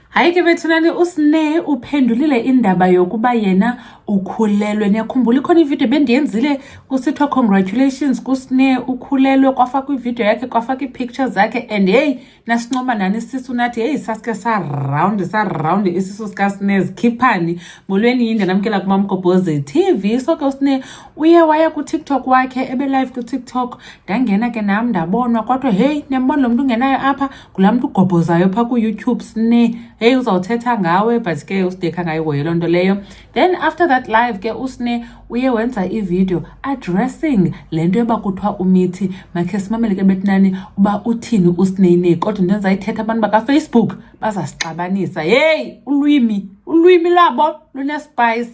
Hayi ke bethunani uSne uphendulile indaba yokuba yena ukhulelwe. Niyakhumbula ikhona ivideo bendiyenzile kusithiwa congratulations kuSne ukhulelwe kwafakwa ivideo yakhe kwafakwa iipicture zakhe and heyi nasincoma nani isisu nathi heyi sasike sarawundi sarawundi isisu sikaSne zikhiphani. Molweni yinde namkela kumamgobhozi TV. So ke uSne uye waya kuTikTok wakhe ebelive kuTikTok ndangena ke nam ndabonwa kodwa heyi niyambona lo mntu ungenayo apha kulaa mntu ugobhozayo phaa kuyoutube sine heyi uzawuthetha ngawe but ke usidekha ngayo hoye loo nto leyo then after that live ke usine uye wenza ividiyo addressing le nto yoba kuthiwa umithi makhe simamele ke betinani uba uthini usineyinei kodwa into endizayithetha abantu bakafacebook bazasixabanisa yeyi ulwimi ulwimi lwabo lunespice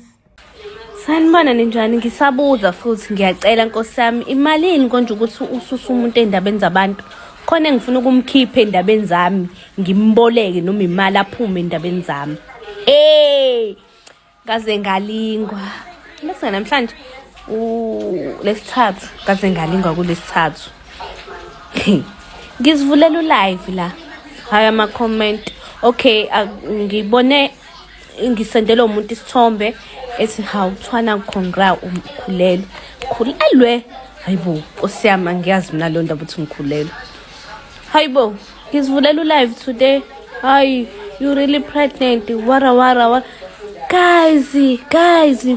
sanibona ninjani ngisabuza futhi ngiyacela nkosi yami imalini konje ukuthi ususa umuntu ey'ndabeni zabantu khona engifuna ukumkhipha ey'ndabeni zami ngimboleke noma imali aphume ey'ndabeni zami ey kaze ngalingwa bese namhlanje lesithathu kaze ngalingwa kulesithathu ngizivulela ulive la hayi ama-comment okay ngibone ngisendelwe umuntu isithombe ethi hawu kuthiwa nakukhongra umkhulelwe khulelwe hayi bo nkosi yami angiyazi mina leyo ndaba ukuthi ngikhulelwe hayi bo ngizivulela ulive today hayi you really pregnant wara wara wara guys guys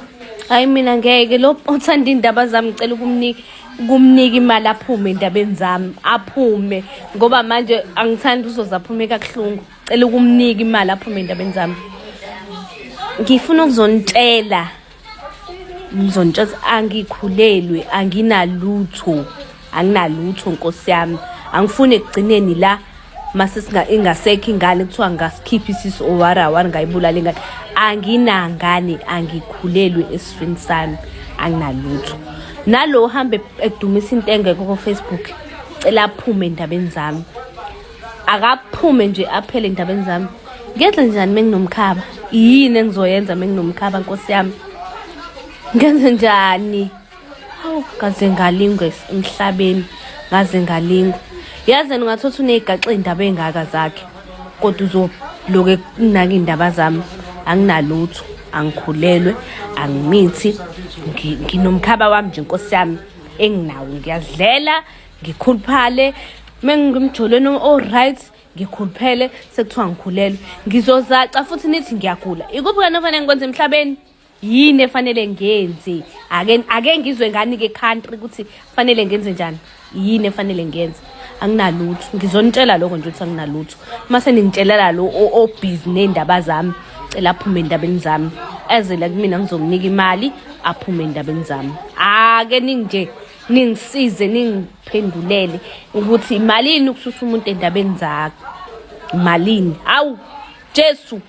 hayi mina ngeke lo othanda iy'ndaba zami ngicela ukumnika kumnika imali aphume endabeni zami aphume ngoba manje angithandi uzoze aphume kakuhlungu cela ukumnika imali aphume endabeni zami ngifuna ukuzonitshela ngizonitshela angikhulelwe anginalutho anginalutho nkosi yami angifuni ekugcineni la mase ingasekho ingane kuthiwa ngasikhiphe isisu owara awari ngayibulala ingane anginangane angikhulelwe esifini sami anginalutho nalo uhambe edumisa into engekho kofacebook cela aphume endabeni zami akaphume nje aphele endabeni zami ngenze njani menginomkhaba yini engizoyenza menginomkhaba nkosi yami ngenze njani hawu ngaze ngalingwe emhlabeni ngaze ngalingwe yazi ungathi uthi uneyigaxe indaba ey'ngaka zakhe kodwa uzoloke kunaka iy'ndaba zami anginalutho angikhulelwe angimithi nginomkhaba wami nje nkosi yami enginawo ngiyazidlela ngikhuluphale mengimjolweni o-right ngikhuluphele sekuthiwa ngikhulelwe ngizozaca futhi nithi ngiyagula ikuphi kani ofanele ngikwenze emhlabeni yini efanele ngenze ake ake ngizwe ngani ke country ukuthi fanele ngenze njani yini efanele ngenze anginalutho ngizonitshela lokho nje ukuthi anginalutho uma seningitshelela lo obhizi ney'ndaba zami cela aphume endabeni zami ezele kumina ngizokunika imali aphume endabeni zami ake ninje ningisize ningiphendulele ukuthi malini ukususa umuntu endabeni zakho malini hawu jesu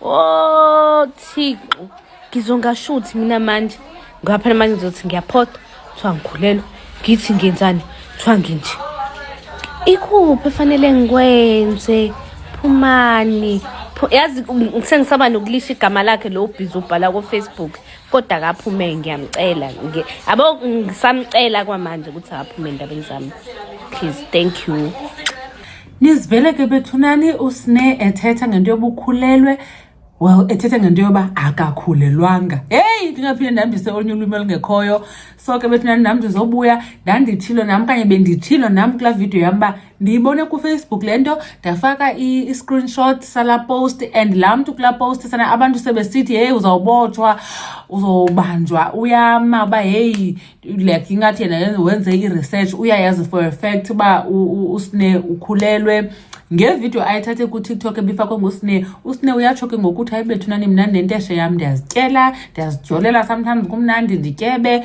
o oh, thixo ngizongashuthi mina manje ngaphana manje ngizothi ngiyaphoda kuthiwa ngikhulelwe ngithi ngenzani kuthiwa nginje ikuphi efanele ngikwenze phumani yazi sengisaba nokulisha igama lakhe lo ubhizi ubhala kofacebook kodwa akaphume ngiyamcela abo ngisamcela kwamanje ukuthi akaphume endabeni zami please thank you nizivele ke bethunani usine ethetha ngento yobukhulelwe well ethetha ngento yoba akakhulelwanga heyi ndingaphinde ndihambise olunye ulwimi olungekhoyo so ke bethunani nam ndizobuya ndandithilo nam kanye bendithilo nam kulaa vidiyo yam uba ndiyibone kufacebook le nto ndafaka i-screenshot sala post and laa mntu kulaa post sana abantu sebesithi heyi uzawubotshwa uzobanjwa uyama uba heyi like ingathi yena wenze i-research uyayazi for a fact uba usne ukhulelwe ngevidiyo ayithathe kutiktok ebifakwe ngusne usne uyatsho ke ngokuthi ayibethunani mna nenteshe yam ndiyazityela ndiyazijolela sometimes kumnandi ndityebe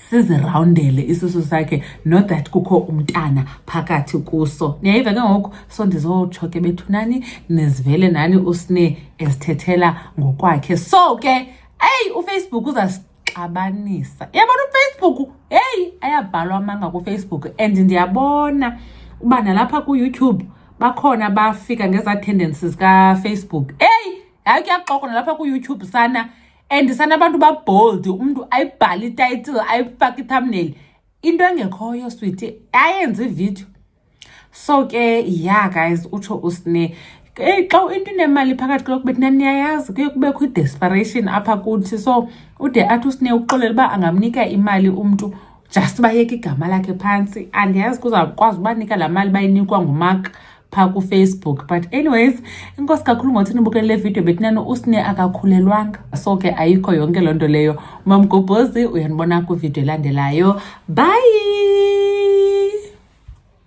sizirawundele isisu sakhe not that kukho umntana phakathi kuso niyayiva ke ngoku so ndizotsho ke bethunani nizivele nani usine ezithethela ngokwakhe so ke eyi ufacebook uzasixabanisa yabona ufacebook heyi ayabhalwa amanga kufacebook and ndiyabona uba nalapha kuyoutube bakhona bafika ngezaa tendencies kafacebook eyi hayi kuyaxoko nalapha kuyoutube sana and sana abantu babold umuntu ayibhale ititle ayifake ithumbnail into engekhoyo switi ayenze ivideo so ke ya guys utsho usne eyi xa into inemali phakathi kuloko bethi naniyayazi kuye kubekho i-desperation apha kuthi so ude athi usine uxolela uba angamnika imali umntu just bayeke igama lakhe phantsi andiyazi kuzakwazi ubanika laa mali bayinikwa ngumak pha kufacebook but anyways inkosi kakhulu ngothi nibukele le video betinani usne akakhulelwanga so ke ayikho yonke loo nto leyo umamgobhozi uyanibona kwividiyo elandelayo bye